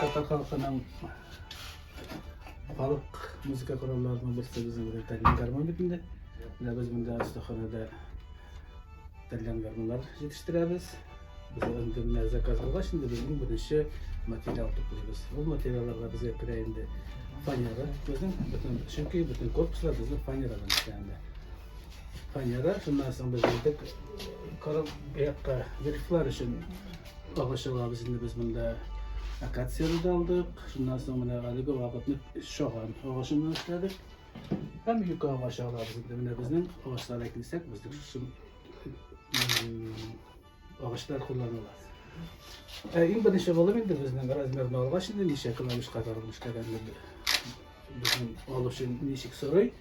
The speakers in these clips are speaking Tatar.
Татар халкының халык музыка коралларының берсе безнең белән тәлин гармон бит инде. Менә без монда остаханәдә тәлин гармоннар җитештерәбез. Без инде менә заказ булгач инде безнең беренче материал туплыйбыз. Бу материалларга безгә керә инде фанера. Безнең бөтен чөнки бөтен корпуслар безнең фанерадан эшләнгән. Панера, шуннан соң без җитеп, корып, якка грифлар өчен агач алабыз инде без монда. Акацияны да алдык, шуннан соң менә әлеге вакытны шаган агачыннан эшләдек. Һәм юка агачы алабыз инде. Менә безнең агачларга килсәк, безнең шушы Агачлар кулланыла. Ә иң беренче булып инде безнең размерны алгач инде ничә клавиш кадәр эшләгәнне безнең алып өчен ничек сорый.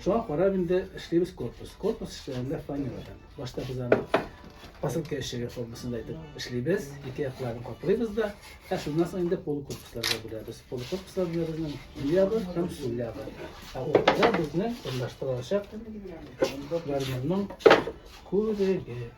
Шуңа карап инде эшлибез корпус. Корпус эшләгәндә фанерадан. Башта без аны посылка эшчеге формасында итеп эшлибез. Ике якларын каплыйбыз да. Ә шуннан соң инде пол корпусларга бүләбез. Пол корпуслар белән безнең өй ягы һәм су ягы. Ә уртада безнең урнаштырылачак гармунның күреге.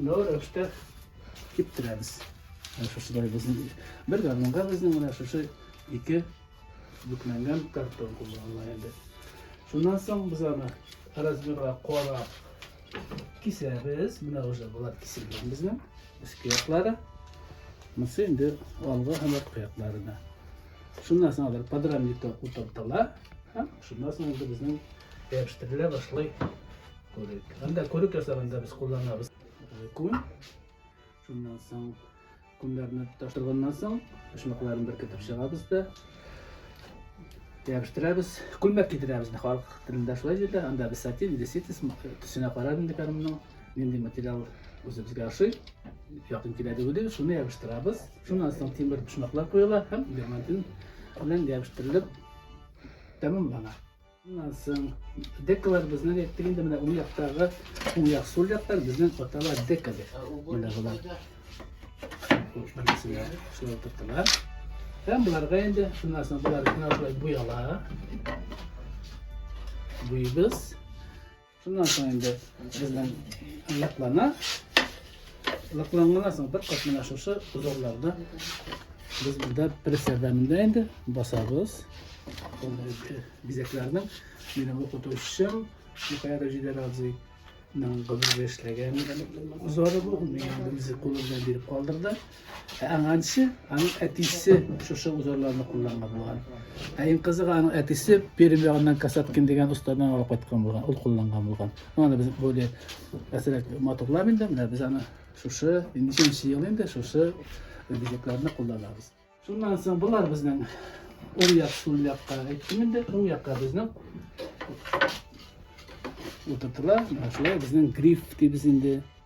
Мынау рәвештә киптерәбез. Шушылай безнең бер гармунга безнең менә шушы ике бүкләнгән картон кулланыла инде. Шуннан соң без аны размерга карап кисәбез. Менә уже болар киселгән безнең өске яклары. Монысы инде алгы һәм арткы якларына. Шуннан соң алар подрамникта утыртыла һәм шуннан соң инде безнең ябыштырыла башлый. Күрек. Һәм дә күрек ясаганда без кулланабыз. Күн. Шуннан соң күннәрне таштырганнан соң почмакларын беркетеп чыгабыз да ябыштырабыз. Күлмәк кидерәбез. Халык телендә шулай диде. Анда без сатин, деситис төсенә карап инде карымның. Нинди материал үзебезгә ошый. Якын килә диде. Шуны ябыштырабыз. Шуннан соң тимер почмаклар куела һәм дермантин белән ябыштырылып тәмамлана. Шуннан соң декалар безнең әйттек инде менә уң яктагы уң як сул яктан безнең аталар дека дип. Менә болар. Шулай тоттылар. Һәм боларга инде шуннан соң болар шулай буяла. Буйбыз. Шуннан соң инде безнең лаклана. Лакланганнан соң бер кат менә шушы узорларда без монда пресс ярдәмендә инде басабыз. Бизәкләрнең минем укытучым Михаил Җидәрадзе Нан гомергә эшләгән узоры бу. Мин инде үзе кулы белән биреп калдырды. Ә аңанчы аның әтисе шушы узорларны кулланган булган. Ә иң кызыгы аның әтисе Пермь ягыннан Касаткин дигән остадан алып кайткан булган, ул кулланган булган. Аны без более әсрәк матурлап инде, менә без аны шушы ничәнче ел инде шушы бизәкләрне кулланабыз. Шуннан соң болар безнең уң як, сул якка әйттем инде, уң якка безнең утыртыла, шулай безнең гриф дибез инде.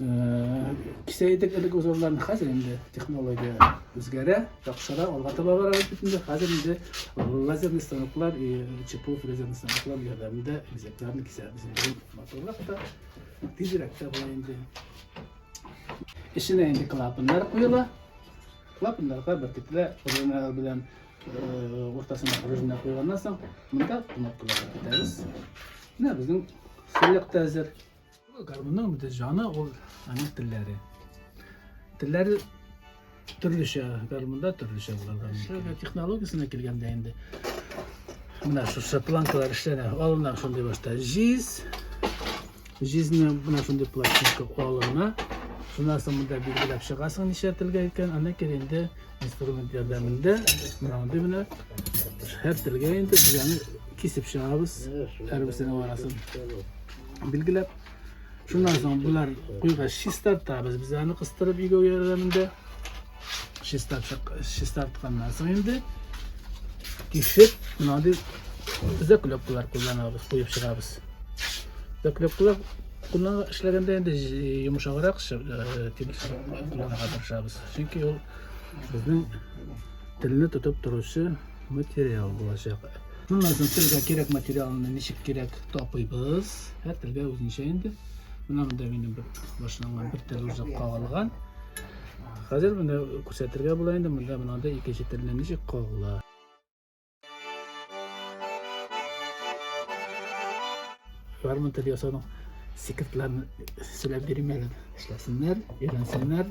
Кисәйдек элек узалдан хәзер инде технология үзгәрә, яхшыра, алга таба барабыз бит инде. Хәзер инде лазерный станоклар, ЧПУ лазерный станоклар ярдәмендә бизәкләрне кисәбез. Инде матурлык та, тизрәк тә була инде. Эченә инде клапаннар куела. Клапаннарга бөркетле пружиналар белән уртасына пружина куйганнан соң, монда кнопкалар китәбез. Менә безнең сүлек тәзер. Гармунның бит җаны ул аның телләре. Телләре төрлечә, гармунда төрлечә булганда. Шуның технологиясенә килгәндә инде. Менә шушы планкалар эшләнә. Алыннар шундый башта җиз. Җизне менә шундый пластинка алына. Шуннан соң монда билгеләп чыгасың ничә телгә икән. Аннан кир инде инструмент ярдәмендә менә мондый менә һәр телгә инде бизәне кисеп чыгабыз. Һәрберсенең арасын. Билгеләп. Шуннан соң болар куйга чистартабыз. Без аны кыстырып игәү ярдәмендә чистартып чистартканнан соң инде кишеп, мондый заклепкалар кулланабыз, куеп чыгабыз. Заклепкалар куллана эшләгәндә инде йомшаграк тимерсез кулланырга тырышабыз. Чөнки ул безнең телне тотып торучы материал булачак. Шуннан соң телгә кирәк материалны ничек кирәк тапыйбыз. Һәр телгә үзенчә инде. Менә монда минем бер башланган бер тел үзе кагылган. Хәзер менә күрсәтергә була инде, монда монда икенче телне ничек кагыла. Гармон тел ясаның секретларын сөйләп бирмәгән. Эшләсеннәр, өйрәнсеннәр.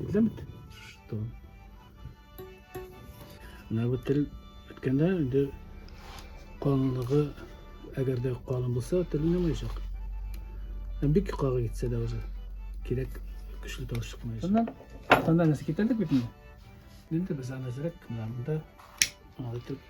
Экземт? Что? Мына бу тел үткәндә инде калынлыгы әгәр дә калын булса, тел уйнамаячак. Бик кагы китсә дә уже кирәк көчле тавыш чыкмаячак. Шуннан тоннарны китердек бит инде. Инде без аны әзрәк мында аңлатып